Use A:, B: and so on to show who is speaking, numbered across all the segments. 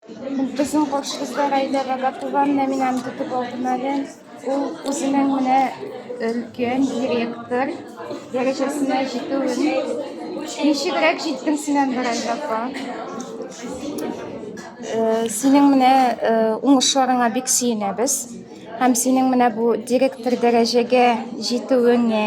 A: Ул безнең каршыбызда Рәйләгә Гатулан Нәминәм көтеп алдым әле. Ул үзенең менә өлкән директор дәрәҗәсенә җитүен. Ничегрәк җиттең син әле Рәйлә апа? Э, синең менә э, уңышларыңа бик сөенәбез. Һәм синең менә бу директор дәрәҗәгә җитүеңә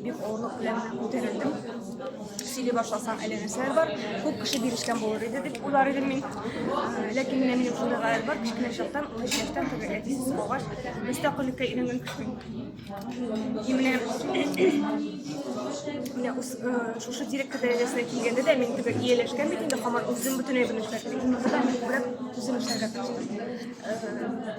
A: Бик авырлык белән күтәрелдем. Сөйли башласаң, әле нәрсәләр бар. Күп кеше бирешкән булыр иде дип уйлар идем мин. Ләкин менә минем шундый гаять бар. Кечкенә чактан, 13 яшьтән теге әтисез калгач, мөстәкыйльлеккә өйрәнгән кеше. И менә менә үз шушы директор дәрәҗәсенә килгәндә дә мин теге ияләшкән бит инде, һаман үзем бөтенләй белмешкә. Мин үзем эшләргә тырыштым.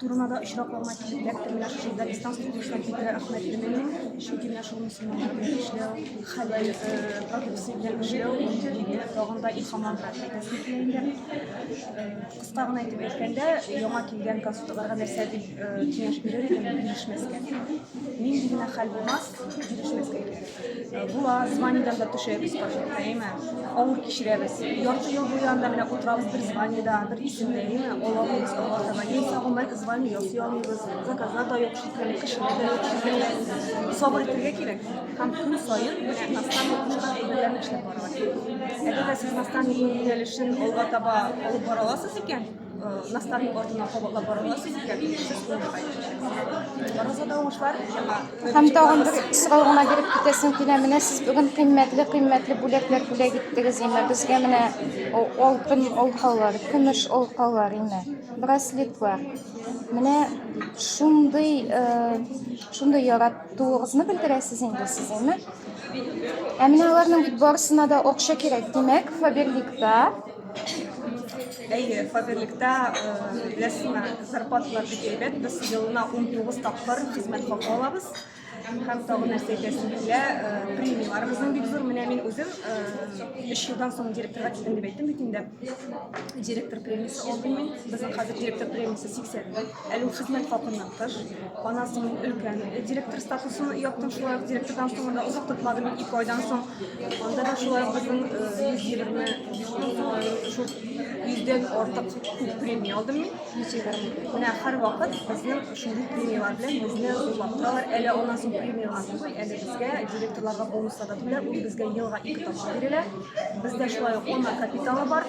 A: Турнада очракларына килеп эләкте менә шушы Дагестан студиясенә килде Әхмәт Ирменин, чөнки менә шул мөселманнар белән эшләү, хәләл продукция белән эшләү, мине тагын да илһам алды. Кыска гына итеп әйткәндә, яңа килгән консультларга нәрсә дип киңәш бирер идем, бирешмәскә. Нинди генә хәл булмас, бирешмәскә кирәк. Була, званиедан да төшәбез паркетка, әйме? Авыр кичерәбез. Ярты ел буе анда менә утырабыз бер званиеда, бер исемдә, әйме? Алабыз, алабыз. Яисә гомумән звание ясый алмыйбыз. Заказлар да юк шикелле, кешеләр дә юк шикелле. Сабыр итәргә кирәк. Һәм көн саен менә настанник кушкан әйберләрне эшләп барырга кирәк. Әгәр дә сез настанникның юнәлешен алга таба алып бара аласыз икән, Насларның артына кабатлап барырга сүз икән, сез шуны кайтачаксыз. Розада уңышлар яңа. Һәм тагын бер сорау гына биреп китәсем килә. Менә сез бүген кыйммәтле кыйммәтле бүләкләр бүләк иттегез име. Безгә менә о- алтын алкалар, көмеш алкалар име, браслетлар. Менә шундый э, шундый яратуыгызны белдерәсез инде сез име. Ә менә аларның бит барысына да акча кирәк. Димәк, Фаберликта Әйе, фатирлектә беләсеңме, зарплаталар бик әйбәт. Без елына 19 тапкыр хезмәт хакы алабыз. Һәм тагын нәрсә әйтәсем килә, премияларыбызның бик зур. Менә мин үзем 3 елдан соң директорга килдем дип әйттем бит инде. Директор премиясе алдым мин. Безнең хәзер директор премиясе 80 мең. Әлү хезмәт хакыннан тыш, анасын өлкән директор статусын яптым, шулай ук директордан соң да озак тотмадым, ике айдан соң. Анда да шулай ук безнең 120 шул йөздән артык күп премия алдым мин. Менә һәр вакыт безнең шундый премиялар белән безне зурлап торалар. Әле аннан соң премиялар түгел, әле безгә директорларга бонуслар да түләп, ул безгә елга ике тапкыр бирелә. Бездә шулай ук ана капиталы бар.